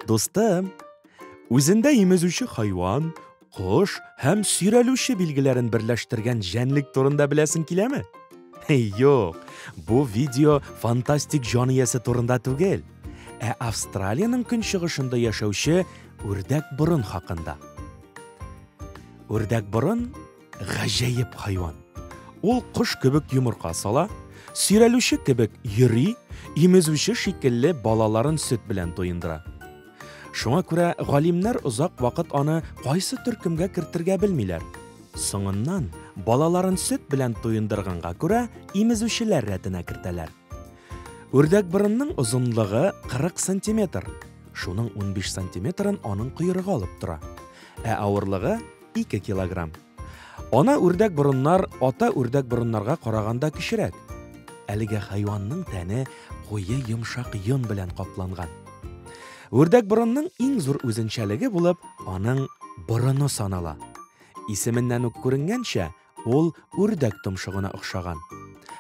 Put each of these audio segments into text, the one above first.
Дустым, үзендә имезүче хайван, кош һәм сөйрәлүче билгеләрен берләштергән җәнлек турында беләсең киләме? Юк, бу видео фантастик җан иясе турында түгел. Ә Австралиянең көнчыгышында яшәүче үрдәк борын хакында. Үрдәк борын гаҗәеп хайван. Ул кош кебек йомырка сала, сөйрәлүче кебек йөри, имезүче шикелле балаларын сөт белән туендыра. Шуңа күрә галимнәр озак вакыт аны кайсы төркемгә кертергә белмиләр. Соңыннан балаларын сөт белән туендырганга күрә имезүчеләр рәтенә кертәләр. Үрдәкборынның озынлыгы 40 сантиметр, шуның 15 сантиметрын аның койрыгы алып тора, ә авырлыгы 2 килограмм. Ана үрдәкборыннар ата үрдәкборыннарга караганда кечерәк. Әлеге хайванның тәне куе йомшак йон белән капланган. Үрдәкборынның иң зур үзенчәлеге булып аның борыны санала. Исеменнән үк күренгәнчә, Ул үрдәк томшыгына охшаган.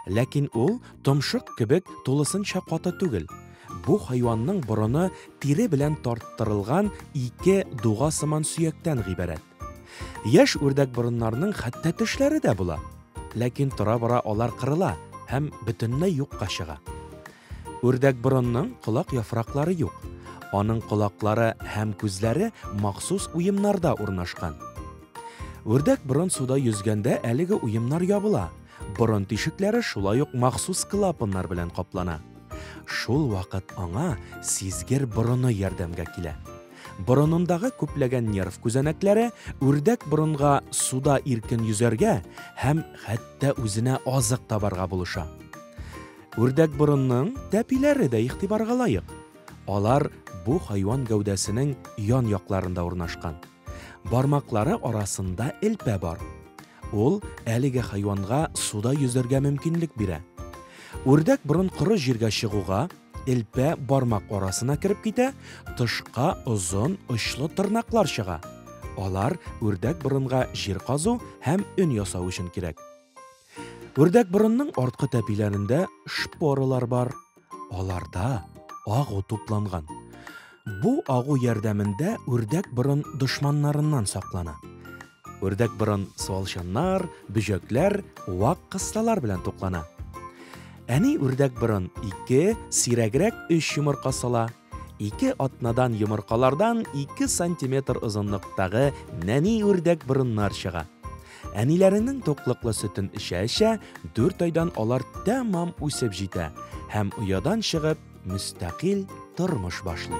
Ләкин ул томшык кебек тулысынча каты түгел. Бу хайванның борыны тире белән тарттырылган ике дуга сыман сөяктән гыйбарәт. Яшь үрдәк борыннарның хәтта тешләре дә була. Ләкин тора-бара алар кырыла һәм бөтенләй юкка чыга. Үрдәкборонның колак яфраклары юк. Аның колаклары һәм күзләре махсус уемнарда урнашкан. Үрдәкборон суда йөзгәндә әлеге уемнар ябыла, борын тишекләре шулай ук махсус клапаннар белән каплана. Шул вакыт аңа сизгер борыны ярдәмгә килә. Борынындагы күпләгән нерв күзәнәкләре үрдәкборонга суда иркен йөзәргә һәм хәтта үзенә азык табарга булыша. Үрдәкборынның тәпиләре дә игътибарга лаек. Алар бу хайван гәүдәсенең ян якларында урнашкан. Бармаклары арасында элпә бар. Ул әлеге хайванга суда йөзәргә мөмкинлек бирә. Үрдәк борын коры җиргә чыгуга, элпә бармак арасына кереп китә, тышка озын очлы тырнаклар чыга. Алар үрдәк борынга җир казу һәм өн ясау өчен кирәк. Үрдәк борынның арткы тәпиләрендә шпорылар бар. Аларда агу тупланган. Бу агу ярдәмендә үрдәк борын дошманнарыннан саклана. Үрдәк борын суалчаннар, бөҗәкләр, вак кыссалар белән туклана. Әни үрдәк борын 2, сирәгрәк 3 йомырка сала. Ике атнадан йомыркалардан 2 сантиметр озынлыктагы нәни үрдәк борыннар чыга. Әниләренең туклыклы сөтен эчә-эчә, 4 айдан алар тәмам үсеп җитә һәм оядан чыгып, мөстәкыйль тормыш башлый.